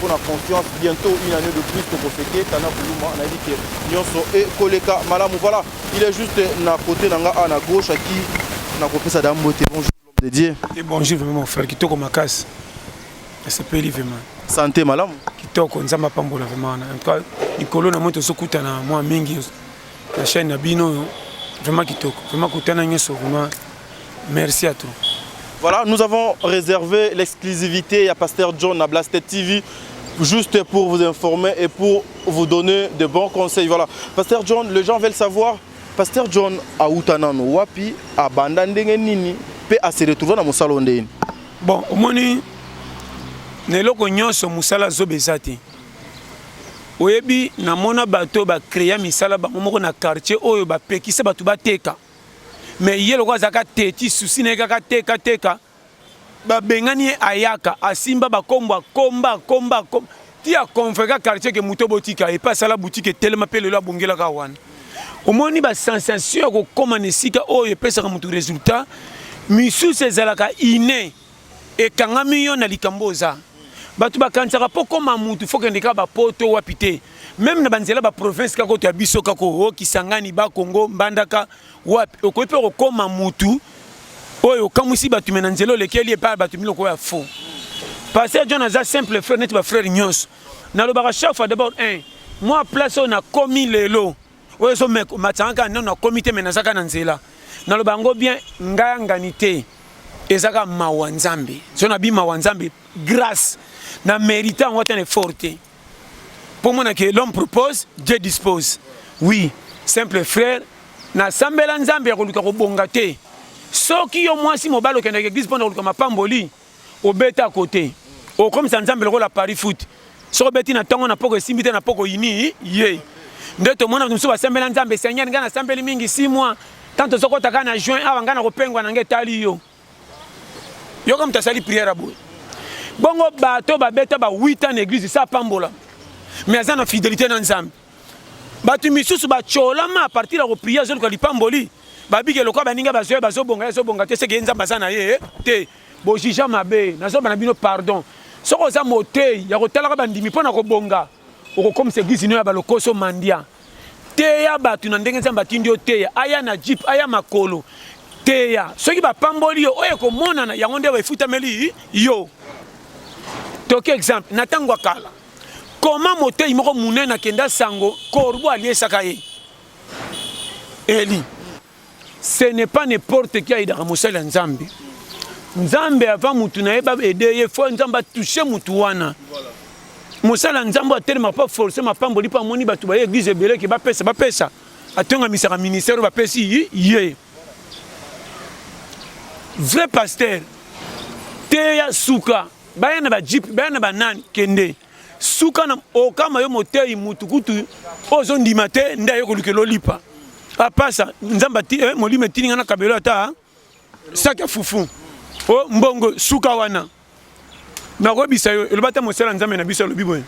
pona confiance bientot une annee de plus toko fete tana kuluma nayebi ke nyonso ekoleka malamu voilà il est juste na côté na nga a na gauche aki nakopesa da mbote bonjour l'homme de Dieu et bonjour vraiment mon frère kitoko makasi asepeli vraiment santé malamu kitoko nzambe apambola vraiment en tout cas likolo na moi tozokutana mwa mingi na chaîne na bino oyo vraiment kitoko vraiment kutana nyonso vraiment Merci à tous. Voilà, nous avons réservé l'exclusivité à Pasteur John à Blaster TV juste pour vous informer et pour vous donner de bons conseils. Voilà, Pasteur John, les gens veulent savoir, Pasteur John à Outanano, Wapi, à Bandandenge Nini, peut à se retrouver dans mon salon de Bon, au moins, na eloko nyonso mosala zoba eza te oyebi namona bato oyo bacrea misala bango moko na quartier oyo bapekisa bato bateka mais ye lokola azalaka teti susi na ye kaka teka teka babengani ye ayaka asimba bakombo akomba akomba akomba ti aconvreka quartier ke moto botika ye mpe asala butike etelema mpe lelo abongelaka wana omoni basensation ya kokóma na esika oyo epesaka moto résultat misusu ezalaka ine ekangami yo na likambo oza bato bakanisaka mpo koma mutu fo kende kaka bapoto wapi te meme na banzela baprovince kaka oto ya biso kaka o kisangani bakongo mbandaka wapi okoki mpe kokoma mutu oyo okamwisi bato me na nzela olekeli epai bato miloko oyo ya fo paster john aza simple frere neti bafrere nyonso nalobaka chaque fois d'abord un mwa place oyo nakomi lelo oyo ezo matanga kaka nano nakomi te me naza kaka na nzela naloba yango bien ngai angani te eza kaka mawa nzambe so nabi mawa nzambe grâce na mérite yango ata na effort te mpo mona ke l'homme propose dieu dispose oui simple frère nasambela nzambe ya koluka kobonga te soki yo mwasi mobali okendaka eglise mpo na koluka mapamboli Obeta à côté. Okomisa Nzambe lokola Paris foot. Soki obeti na tongo na poko esimbi te na poko ini ye. Nde tomona bato mosusu basambela Nzambe Seigneur ngai nasambeli mingi 6 mois. Tant tozokota kaka na juin awa ngai nakopengwa na ngai etali yo. Yoka moto asali prière boye. Bongo bato babeta ba 8 ans na église sa pambola. Mais aza na fidélité na Nzambe. bato misusu bacolama apartir ya koprie azoluka lipamboli babiki elokola baninga bazoya bazobonga ye azobonga te seke ye nzambe aza na ye eh, te bojija mabe nazoloba na bino pardon soki oza motei ya kotalaka bandimi mpo na kobonga okokomisa eglize ino ya balokoso mandia teya bato na ndenge nzambe atindi yo teya aya na jipe aya makolo teya soki bapamboli yo oyo ekomonana yango nde efutameli yo toki exemple na ntango ya kala Comment moteyi moko munene akenda sango corbeau aliesaka ye Eli ce n'est pas n'importe qui ayidaka mosali ya Nzambe Nzambe avant mutu na ye ba aider ye faut Nzambe toucher mutu wana mosali ya Nzambe atelema pas forcer mapamboli pa moni batu ba église ebele ke bapesa bapesa atonga misaka ministère bapesi ye vrai pasteur teya suka baya na ba jeep baya na ba nani kende suka na okama yo moteyi mutu kutu oyo ozondima te nde aye kolukela olipa apasa ah, nzambe ati eh, molimo etini nga na kabelo ata saki ya fufu o oh, mbongo suka wana nakoyebisa yo eloba ata mosala nzambe na biso alobi boye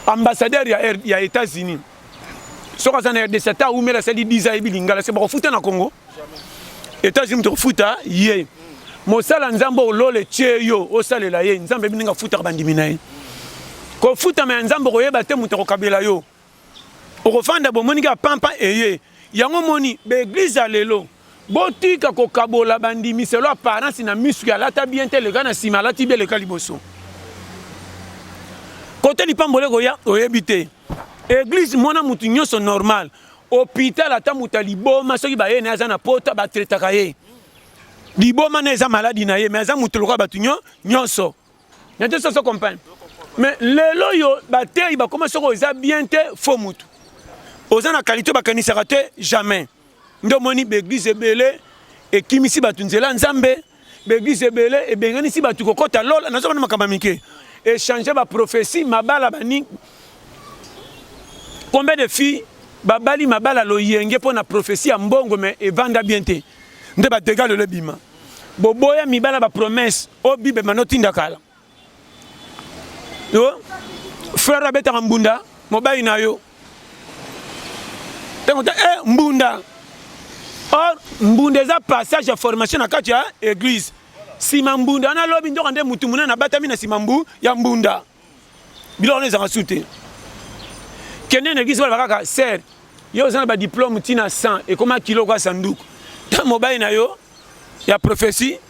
ambassadeur ya, ya états-unis soki aza na rdc ata awumela asali 10 ayebi lingala se bakofuta na congo Etats-Unis moto kofuta ye. Mosala Nzambe olole tie yo osalela ye. Nzambe yebi ndenge afutaka bandimi na ye. Kofutama ya Nzambe okoyeba te moto akokabela yo. Okofanda bomoniki ya pampa eye. Yango moni baeglise ya lelo botika kokabola bandimi selo apparence na misu ya lata bien te leka na nsima alati bien leka liboso. Kote lipamboli ekoya oyebi te. Eglise mona moto nyonso normal. Hopital ata moto ya liboma soki baye na aza na pota ba traitaka ye. Liboma na eza maladi na ye mais aza moto lokola bato nyo nyonso. Na te soso comprendre. Mais lelo yo bateyi bakoma soko eza bien te faux moto. Oza na qualité bakanisaka te jamais. Ndio moni ba église ebele ekimisi bato nzela Nzambe. Ba eglises ebele ebenganisi bato kokota lola, nazo bana makambo mike. Echanger ba prophetie mabala bani combien de filles babali mabala loyenge mpo na prophetie ya mbongo mais evanda bien te nde ba dégâts lelo ebima. Boboya mibala ba promesse o Bible manotinda kala. yo frère abetaka mbunda mobali na yo ntango ta e mbunda or mbunda eza passage ya formation na kati ya église nsima mbunda wana lobi ndoka nde motu monene abatami na nsima mbu ya mbunda biloko wana ezanga su te kende na église balaba kaka ser yo oza na badiplome ntina 100 ekoma kilo kwa sanduku ta mobali na yo ya prophesie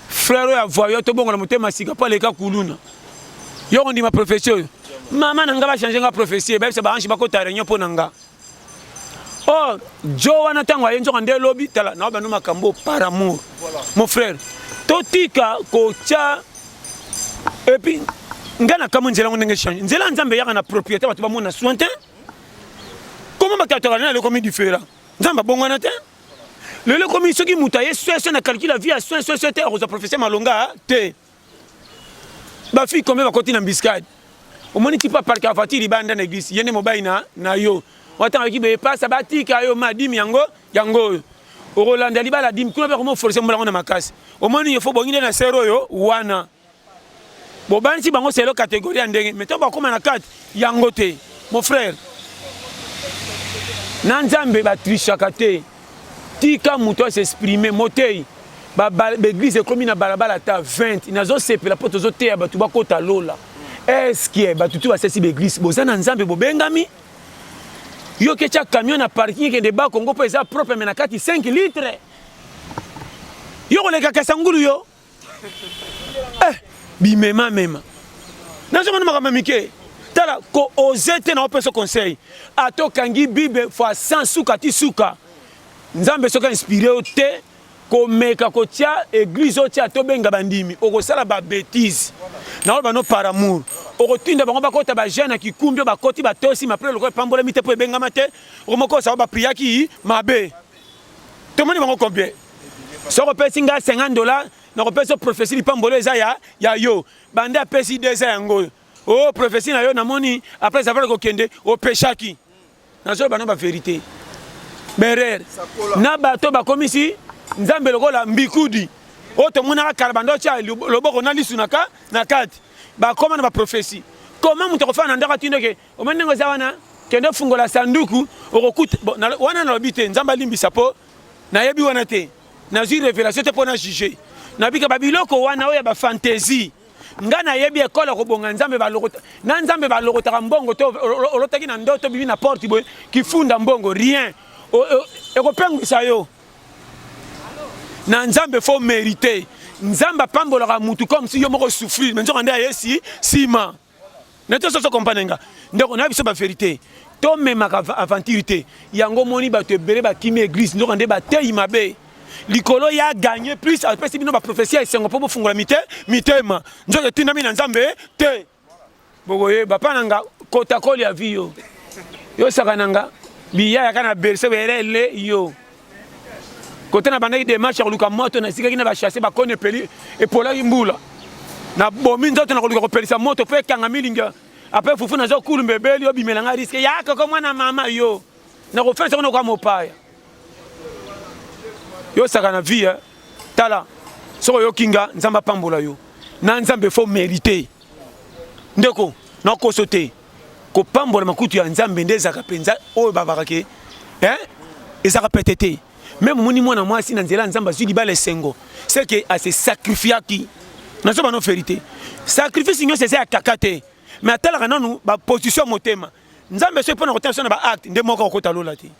Frère ya voyou to bongo na motema sika pa leka kuluna. Yo on dit ma prophétie oyo. Maman na nga ba changer nga prophétie, ba bisa ba ange ba ko ta réunion po na nga. Oh, Joe wana tango aye nzoka nde lobi tala na ba no makambo par amour. Voilà. Mon frère, to tika ko cha et puis nga na kamwe nzela ngo ndenge change. Nzela nzambe yaka na propriété bato ba mona soin te. Comment ba kataka na le komi différent. Nzambe bongo na te. lelo ekomi soki moto aye sweswe na calcule ya vie ya swesweswe te akozwa professeur malonga te bafille combien bakoti na mbiskade omoni tipa parke ya voiture libanda na eglise ye nde mobali na, na yo watangaki boye pasa batika yo ma dime yango yango oyo okolanda libala dime kuna mpe akomoforce molango na makasi omoni yo fo bongi nde na sere oyo wana bobanisi bango selo kategori ya ndenge me ntango bakoma na kati yango te mon frère na nzambe batrishaka te tika moto asexprime motei baeglise ekomi na balabala ata 20 nazosepela mpo tozoteya bato bakota lola eske bato tu basesi baeglise boza na nzambe bobengami yo ketya camion na parking ekende bakongo mpo eza propre me na kati 5 litre yo kolekaka sangulu yo eh, bimema mema nazo mona makambo mike tala ko oser te na opesa conseil ata okangi bible fois 100 suka ti suka nzambe soki inspire yo te komeka kotia eglise otia to benga bandimi okosala ba bêtise na oyo bano par amour okotinda bango bakota ba jeune ya kikumbi bakoti batosi mapre lokola epambolami te mpo ebengama te okomokosao bapriaki mabe tomoni bango combien soki opesi ngai 50 dollars nakopesa prophesie lipambolo eza ya, ya yo bande apesi de eza yango oyo o oh, prophesie na yo namoni après avoir kokende opeshaki nazoloba na baverité berere na bato bakomisi nzambe lokola mbikudi oyo tomonaka kala banda otya loboko na lisu na kati bakoma na baprofesi koma moto akofana na ndako atindoke Omoni ndenge oza wana kende ofungola sanduku okokuta wana nalobi te nzambe alimbisa mpo nayebi wana te nazwi revelation te mpo na juge nabika babiloko wana oyo ya bafantaisie ngai nayebi ekole kobonga nzambe balokota na nzambe balokotaka mbongo to olotaki na ndoto obimi na porte boye kifunda mbongo rien ekopengwisa yo na nzambe fo merite nzambe apambolaka mutu comme si yo moko souffrir me nzoka nde ayesi nsima na te soso kompane nga ndeko na biso ba verite tomemaka aventure te yango omoni bato ebele bakimi eglise nzoka nde bateyi mabe likolo ya gagne plus apesi bino baprofesi ya esengo mpo bofungola mite mitema nzoka etindami na nzambe te bokoyeba mpa na nga kotakoli ya vi yo yosaka na nga biya yaka na berse belele yo kote nabandaki demarche ya koluka moto nasikaki na bachasse bakoni epeli epolaki mbula nabomi nzoto na koluka kopelisa moto mpo ekanga milinga apres fufu nazo kulumba ebeli obimela ngai riske ya koko mwana mama yo nakofesa kuna kwa mopaya yo saka na vie tala soki oyoki nga nzambe apambola yo na nzambe fo merite ndeko nakoso te kopambola makutu ya nzambe nde ezalaka mpenza oyo babaka ke eh? ezalaka pete te meme omoni mwana mwasi na nzela ya nzambe azwi libala esengo seke ase sacrifiaki nazoba no verité sacrifice nyonso eza ya kaka te mais atalaka nanu baposition ya motema nzambe soki mpo na kotala biso na baacte nde moko akokota lola te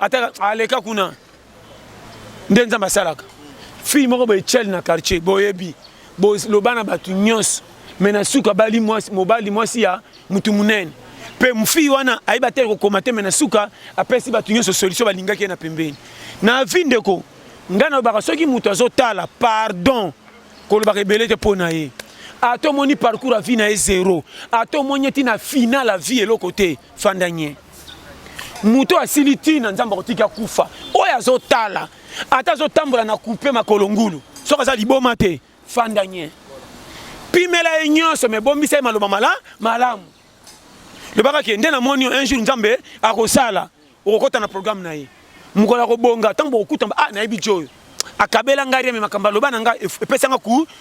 ata aleka kuna nde nzambe asalaka fille moko boye chel na quartier boyebi boloba na bato nyonso me na suka bali mwasi mobali mwasi ya motu monene mpe mfii wana ayeba te kokoma te me na suka apesi bato nyonso solution balingaki ye na pembeni na vi ndeko ngai nalobaka soki moto azotala pardon kolobaka ebele te mpo na ye ata omoni parcours ya vie na ye zero ata omoni eti na final ya vie eloko te fanda nye moto asili ntina nzambe akotiki akufa oyo azotala ata azotambola na kupe makolo ngulu soki aza liboma te fanda nye pimela ye nyonso me bombisa ye maloba mala malamu lobaka ke nde namoni un jour nzambe akosala okokɔta na programme na ye mokolo ya kobonga ntango bokokutana ah nayebi ti oyo akabela ngai reme makambo aloba na ngai epesa nga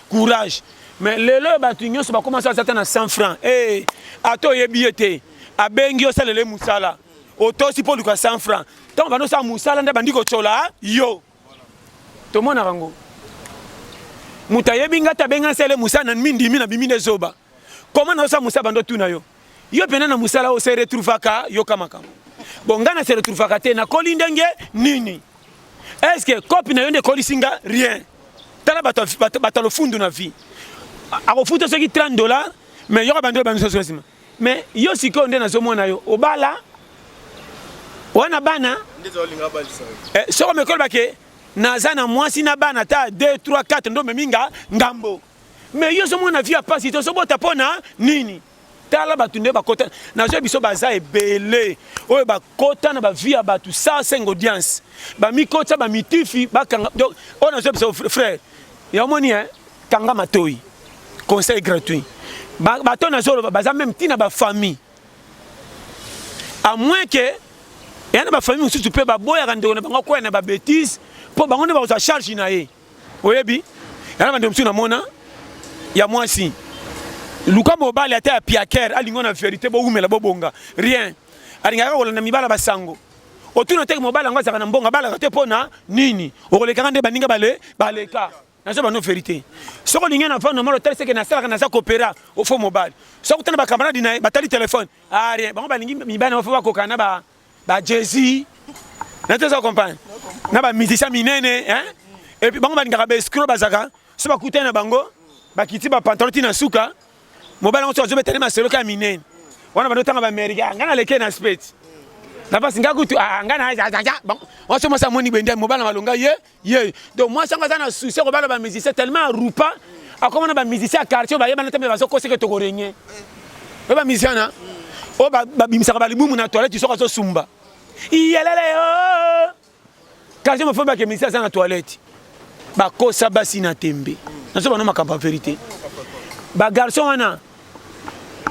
courage mais lelo oyo bato nyonso bakomasa aza ata na 100 franc e eh, ata oyebi ye te abengi osalela ye mosala otosi mpo oluka 100 franc ntango bando osala mosala nde bandi kotyola yo tomonaka yango moto ayebi ngai te abengi asala ye mosala na mindimi na bimi nde zoba Comment nazo sa musala bando tuna yo. Yo pena na musala o se retrouvaka yo kama kama. Bon nga na se retrouvaka te na koli ndenge nini? Est-ce que copie na yo nde kolisi nga rien? Tala bato bato bato lofundu na vie. Akofuta soki 30 dollars mais yoka bando bamiso sosima. Mais yo sikoyo nde nazo mona yo obala wana bana eh, soko mekolobake naza na mwasi na bana ta 2 3 4 ndo memi nga ngambo Mais yo ozomona vie ya pasi te ozobota mpo na nini tala bato nde bakota nazwa biso baza ebele oyo bakota na bavie ya bato sa senga audience bamikotisa bamitifi bakanga donc oyo nazwa biso frère ya omoni e kanga matoi conseil gratuit bato nazoloba baza meme ntina bafamille à moins que eya na bafamille mosusu mpe baboyaka ndeko na bango akwea na babétise mpo bango nde bakozwa charge na ye oyebi yana bande mosusu namona ya mwasi luka mobali ata ya piaker alingo na verite bowumela bobonga rien alingaka kolanda mibala basango otuna teke mobali yango azalaka na mbongo abalaka te mpo na nini okolekaka nde baninga bale baleka naza bano verité soki olingi na vano molo otali seke nasalaka naza kopera ofo mobali soki otana bakamaradi na ye batali telefone arie ah, bango balingi mibali na bafo bakokana na ba Jay-Z na teza compagne na ba musiciens minene hein et puis bango balingaka ba escro bazaka so bakutani na bango bakiti ba pantalon ti na suka mobali yango so azobetani masolo ka minene wana bando tanga ba amerika ngai naleke na speti na pasi ngai kutu ngai na waso mwasi amoni bende mobali na malonga ye ye donc mwasi yango aza na souci ya kobala bamusicien tellement arupa akoma na bamusicien ya quartier bayebana te mpe bazokoseke tokorenye oyo bamusicien wana oyo babimisaka balibumu na toilette soki azosumba iyelele oh! quartier mofo bake musicien aza na toilette bakosa basi na tembe nazo bana makambo ya verité bagarçon wana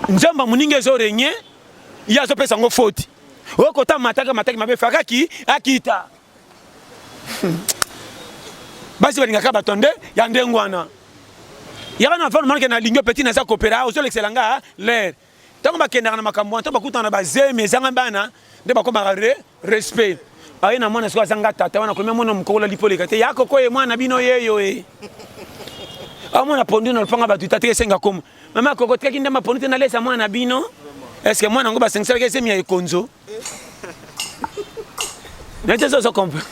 nzamba moninga ezorenye ye azopesa yango foti oyo kota mataki mataki mabe fakaki akita basi balingaka bato nde ya ndenge wana yaka na fanu manake nalingi opeti naza kopera ah, ozolekisela nga ah, lere ntango bakendaka na makambo wana ntango bakutana na bazemi ezanga bana nde bakomaka re respect aye na mwana soki azanga tata wana kolomia mwana mokokola lipoleka te yako koye mwana bino yeyo e amona pondu na lopanga bato tate esenga koma mama koko tikaki ndamba pondu te nalesa mwana bino eske mwana yango basengiselaki ezemi ya ekonzo nete eza ozo comprendre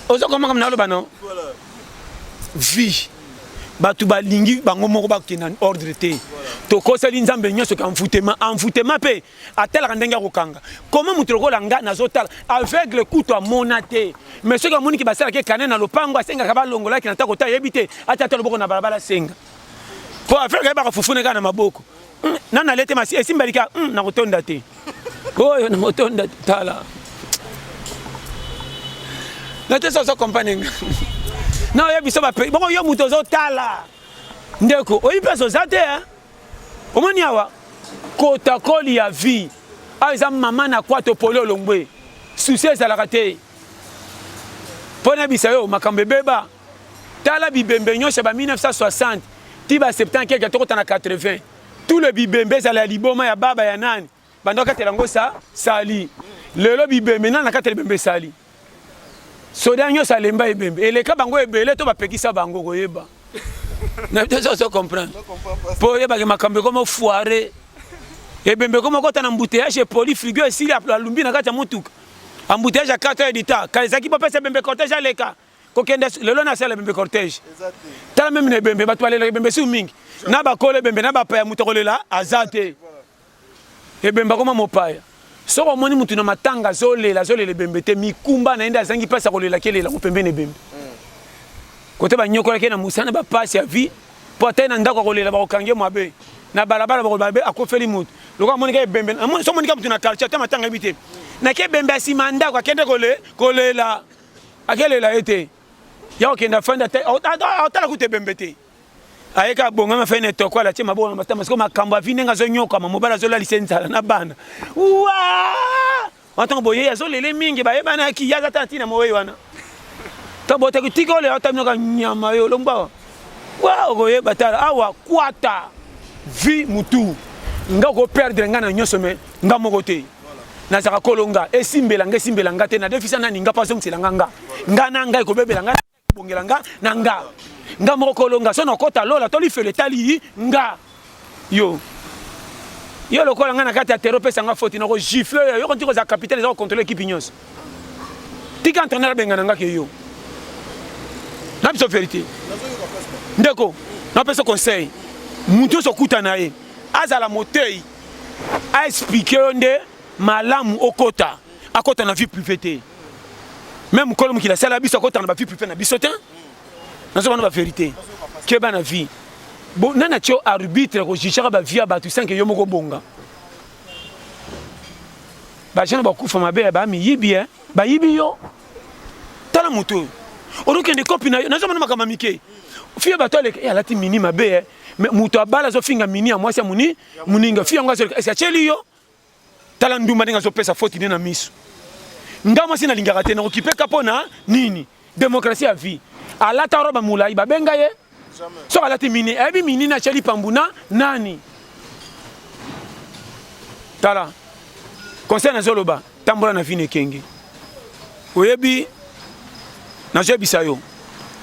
ozo comprendre kama naloba no vie bato balingi bango moko bakokende na ordre te tokoseli nzambe nyonso ke envoutema envoutema mpe atalaka ndenge ya kokanga koma moto lokola nga nazotala aveugle kutu amona te mais soki amoni ke basalaki ekane na lopango asengaka balongolaki na tako ta yebi te ata ata loboko na balabala asenga mpo aveugle ayebaka fufune kaka na maboko hmm, nani alete masi esimbeli ka hmm, nakotonda te oyo nakotonda te tala natesa ozo comprendre nga na oyebi biso bape bongo yo moto ozotala ndeko oyebi place oza te omoni awa kotakoli ya vie awa ah, eza mama na kwato poli olongwe susi ezalaka te mpo nayebisa yo makambo ebeba tala bibembe nyonso ya ba 1960 ti ba 70 keke tokota na 80 tout le bibembe ezala ya liboma ya baba ya nani banda okatela yango sa sali lelo bibembe nani nakatela ebembe sali soda nyonso alemba ebembe eleka bango ebele to bapekisa bango koyeba na biso ozo comprendre mpo oyebake makambo ekoma foire ebembe ekoma okota na mbuteyage epoli frigo esili alumbi na kati ya motuka embouteillage ya 4 heures du temps kala ezalaki bopesa ebembe cortège aleka kokende lelo na sala bembe cortège tala meme na ebembe bato balelaka ebembe siu mingi na bakolo ebembe na bapaya moto akolela aza te ebembe akoma mopaya soki omoni motu na matanga azolela azolela ebembe te mikumba na ye nde azangi mpasi akolelaki elelako pembeni ebembe kote banyokolaki na mosana bapasi ya vie mpo ata ye na ndako akolela bakokange mabe na balabala bakoloba be akofeli moto lokola amonika ebembe somonika motu na quartier ata matanga yebi te nake ebembe ya nsima ya ndako akende kole kolela akelela ye te ya kokende afandi atala kutu ebembe te aye kaka bongami afai na etoko alatie maboko na matama sikoyo makambo avi ndenge azonyokama mobali azolalisa enzala na bana wa ntango boye azolele mingi bayebanaki ye aza ta ntina mowei wana ntango botaki tika olela otaminoka nyama yo olombawa wa okoyeba tala awa kwata vi mutu nga okoperdre nga na nyonso me nga moko te nazaka kolonga esimbela nga esimbela nga te nadefisa nani nga mpo azongisela nga nga nga na ngai kobebela nga kobongela nga na nga nga moko kolonga so nakota lola to lifelo etali nga yo yo lokola nga na kati ya tero opesa nga foti nako gifle oyo yoko nti kozala capitale eza kocontrole ekipe nyonso tika entraîneur abengana nga ke yo na biso verité ndeko napesa conseil moto nyonso okuta na ye azala motei a expliquer yo nde malamu okota akota na vie privée te meme mokolo mokili asala biso akota na ba vie privée na biso te nazo bana ba vérité keba na vie bo nani atio arbitre kojijaka ba vie ya bato sanke yo moko bonga bajana bakufa mabe ya bamiyibi e bayibi yo tala moto oyo olokende kopi na yo nazo mona makambo mike fiye bato aleka e alati mini mabe e Mais mutu abala zo finga mini ya mwasi ya muni muninga fi yango azoleka esi acheli yo tala ndumba ndenge azopesa foti nde na miso nga mwasi nalingaka te nakokipeka mpo na nini demokrasi ya vie alata roba molai babenga ye soki alati mini ayebi mini na acheli pambu na nani tala conseil nazoloba tambola na vino ekenge oyebi nazoyebisa yo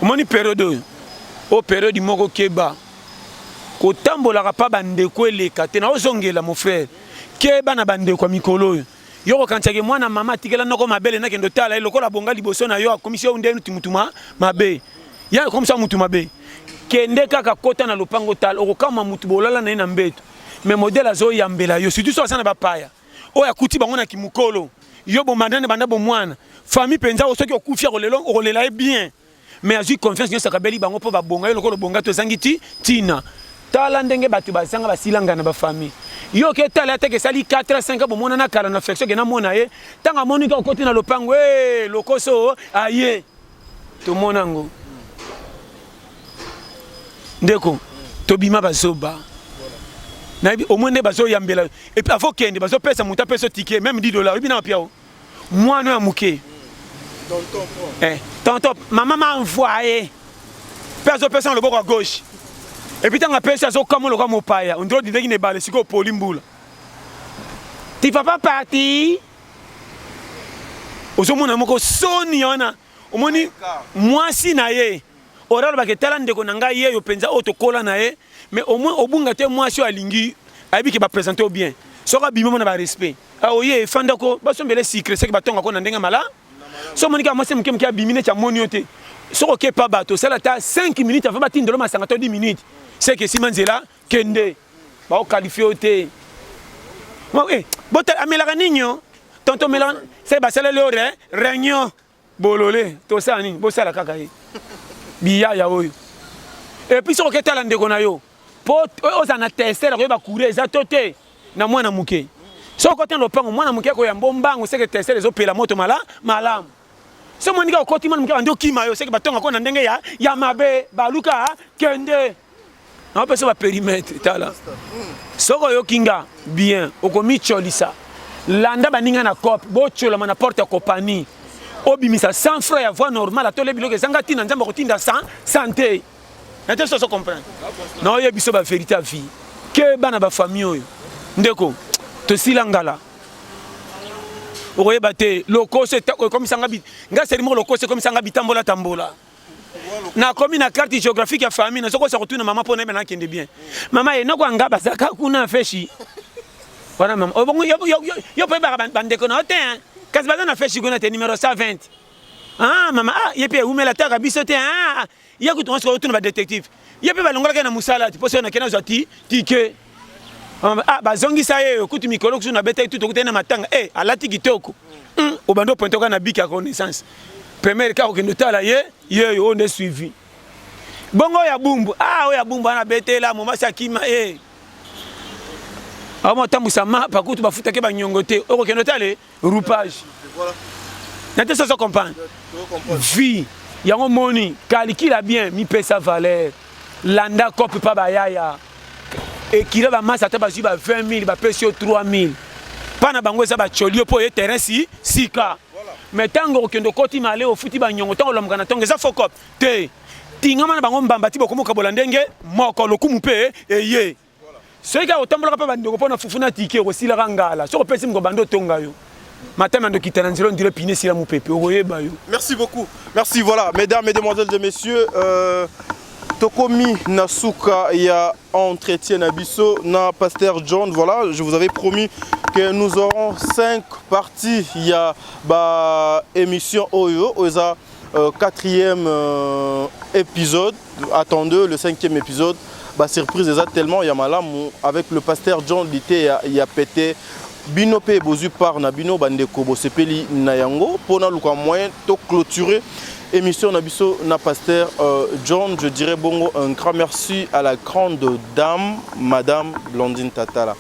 omoni periode oyo o periode moko keba kotambolaka mpa bandeko eleka te naozongela mon frère keba na bandeko ya mikolo oyo yo kokanisaki mwana mama atikela noko mabele nakende otala ye lokola abonga liboso na yo akomisi yo nde nuti motu mabe ya akomisa motu mabe kende kaka kota na lopango otala okokama motu bolala na ye na mbeto me modele azoyambela yo surtout so aza na bapaya oyo akuti bango na kimukolo yo bomandane banda bomwana famille mpenza oyo soki okufi akolelo okolela ye bien mais azwi confiance nyonso akabeli bango mpo babonga yo lokola obonga to ezangi ti ntina tala ndenge bato bazanga basilanga na bafamille yo oke tala ateke esali 4 a 5 bomonana kala na flexion ke namona ye ntango amoni ka okoti na lopango e lokoso aye tomona yango ndeko tobima bazoba nayebi omoi nde bazoyambela epuis afo kende bazopesa moto apesa tike meme 10 dollar oyebi na wapiao mwana ya moke eh, tonton mama ma envoye mpe azopesa na loboko ya gauche epuis ntango apesi azokamwa lokola mopaya ondrodi ndenge na ebale sikoyo opoli mbula ti papa parti ozomona moko soni wana omoni mwasi na ye oralobaka etala ndeko na ngai yeyo mpenza oyo tokola na ye mais au moins obunga te mwasi oyo alingi ayebi ke bapresente yo bien soki abimi mona barespect ah, oye efanda ko basombele sikre seke batonga ko na ndenge mala so omoni kaka mwasi moke moke abimi neti amoni yo te soki okepa bato osala ata 5 minutes avant batindelo masanga to 10 minutes seke esima nzela kende bao qualifie yo te eh, bota amelaka nini yo tonto omelaka se basaleli yo re réunion bolole tosala nini bosala kaka ye biyaya oyo epuis soki oketala ndeko na yo mpo ozala na tester akoyeba courant eza to te na mwana moke soki okoti na lopango mwana moke akoyamba ombango seke tester ezopela moto mala malamu so monika okoti mwana moke bandi okima yo seke batongako na ndenge ya, ya mabe baluka kende napesa ba perimetre tala soki oyoki nga bien okomicolisa landa baninga na cope bocolama na porte ya kopani obimisa 100 franc ya voie normale atole biloko ezanga ntina nzambe akotinda 100 sante nate soso comprendre na oyebi biso baverité ya vie ke bana bafamille oyo ndeko tosila ngala okoyeba te lokoso ekomisanga nga seri moko lokoso ekomisanga bitambola tambola na komi na carte géographique ya famille na sokosa kotuna mama mpo nayeba nakende bien mama ye noko anga bazaka kuna feshi wana mama obongo yo yo yo pe ba bandeko na te hein kasi baza na feshi kuna te numéro 120 ah mama ah ye pe umela taka biso te ah ye kutu on se retrouve ba détective ye mpe balongolaki na mosala ti mposo nakenda zwa ti tike ah, bazongisa ye oyo kutu mikolo kusu nabetaki tu tokutani na matanga e alati kitoko hmm, obandi opointe oka na biki ya connaissance premiere kaka okende otala ye yeyo oyo nde suivi bongo oyo ya bumbu a ah, oyo ya bumbu wana abetela momasi akima e aoma otambwisa mapa kutu bafutaki banyongo te okokende otala roupage na te soso comprendre vie yango moni kalikila bien mipesa valeur landa cope pa bayaya ekila bamasi ata bazwi ba 20 000 bapesi yo 3 000 mpa na bango eza bacolio mpo oye terrain si sika me ntango okende okoti male ofuti banyongo ntango olamuka na ntongo eza fokop te tingama na bango mbamba ti bokomokabola ndenge moko lokumu mpe eye soki kaka otambolaka mpe bandeko mpo na fufu na tike okosilaka ngala soki opesi moko banda otonga yo matama ya ndokita na nzela ondire pine esila mopepe okoyeba yo merci beaucoup merci voilà mesdames mesdemoiselles et messieurs euh... Tokomi Nasuka ya entretien na biso na Pasteur John. Voilà, je vous avais promis que nous aurons cinq parties ya ba émission oyo oza Euh, quatrième euh, épisode, attendez le cinquième épisode. Bah, surprise eza tellement ya malamu avec le pasteur John Lité ya, ya pété bino mpe bozwi part na bino bandeko bosepeli na yango mpo naluka moyen to clôturer émission na biso na pasteur euh, John je dirais bongo un grand merci à la grande dame madame Blandine Tatala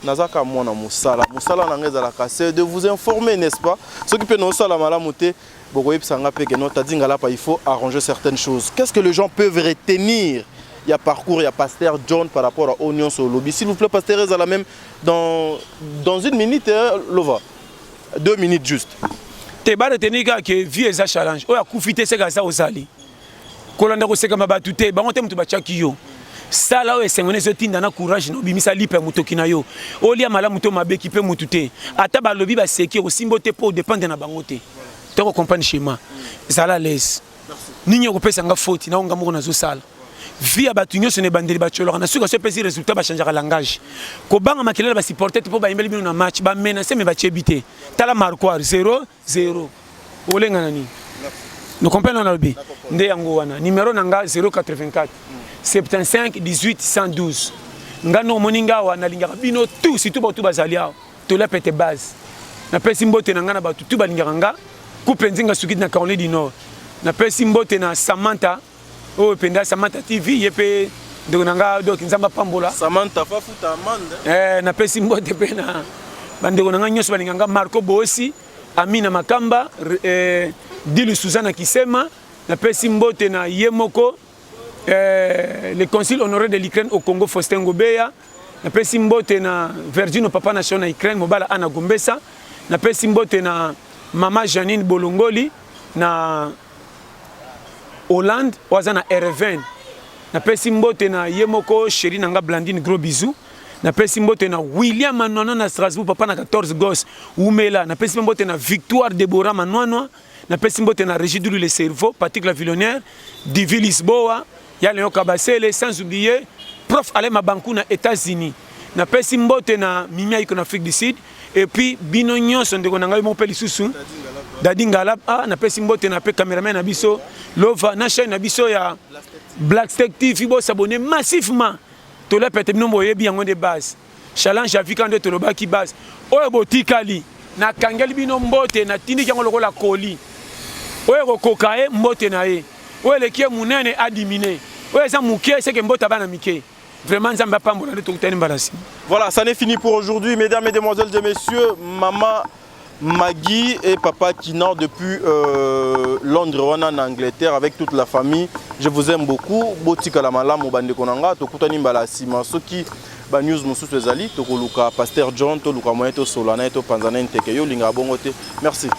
nazaka mwana mosala mosala na ngai ezalaka c'est de vous informer n'est-ce pas soki mpe naosala malamu te Bokoyebisa nga pe que non Taddy Ngalapa il faut arranger certaines choses. Qu'est-ce que les gens peuvent retenir ya parcours ya pasteur John par rapport à oyo nyonso olobi s'il vous plaît pasteur ezala même dans, dans une minute eh, lova deux minutes juste te baretenir kaka ke vie eza challenge oyo akufi te seka eza ozali kolanda kosekama bato te bango te moto batyaki yo sala oyo esengo na ezotinda na courage na obimisa lipa ya motoki na yo olia malamu to mabe kipe motu te ata balobi baseki okosimbo te mpo odepende na bango te toko comprendre schéma zala lese nini okopesa nga foti na oyo nga moko nazosala vie ya bato nyonso na ebandeli batyolaka na suka so epesi résultat bachangeaka langage kobanga makelele basupporte te mpo bayembeli bino na match bamenase me batyebi te tala marquoire 0 0 olenga na nini no comprendre na lobi nde yango wana numero na nga 084 75 18 112 nga no omoni nga awa nalingaka bino tout surtout bato bazali awa tolia pete base napesi mbote na nga na bato tout balingaka nga kupe nzinga sukidi na caroline du nord napesi mbote na samantha oyo mpenza samantha tv ye mpe ndeko na nga doki nzambe apambola samantha fafuta amande eh, napesi mbote mpe na bandeko na nga nyonso balinga nga marco boosi amina makamba eh, dilu suzana kisema napesi mbote na ye moko eh, le consul honoré de l'ukraine au congo faustin ngobeya napesi mbote na virgino papa nation na ukraine mobala ana gombesa napesi mbote na mama janine bolongoli na Hollande oyo aza na Ereven napesi mbote na ye moko sheri na nga Blandine gros bisou napesi mbote na William Manwana na Strasbourg papa na 14 gos wumela napesi mpe mbote na Victoire Deborah Manwanwa napesi mbote na Regidulu le cerveau Patrick la Villonnaire Divi Lisboa Ya Leon Kabasele sans oublier prof Alain Mabankou na Etats-Unis. Na pesi mbote na Mimi Aiko na Afrique du Sud et puis bino nyonso ndeko na ngai mopeli susu Dadi Ngalab ah na pesi mbote na pe cameraman na biso Lova na chaîne na biso ya Black Tech TV bo s'abonner massivement. Tola pete bino boyebi yango de base. Challenge ya vika nde tolobaki base oyo botikali nakangeli bino mbote natindiki yango lokola koli oyo ekokoka ye mbote na ye oyo eleki ye monene adimine oyo eza moke seke mbote abana mike Vraiment, Nzamba Pambola, Voilà, ça n'est fini pour aujourd'hui, mesdames, mesdemoiselles et messieurs, maman. Maggie et papa Kinan depuis euh, Londres wana na Angleterre avec toute la famille. Je vous aime beaucoup. Botika la malamu bande konanga tokutani mbala sima soki ba news mususu ezali tokoluka pasteur John toluka moyen to solana to panzana nteke yo linga bongo te. Merci.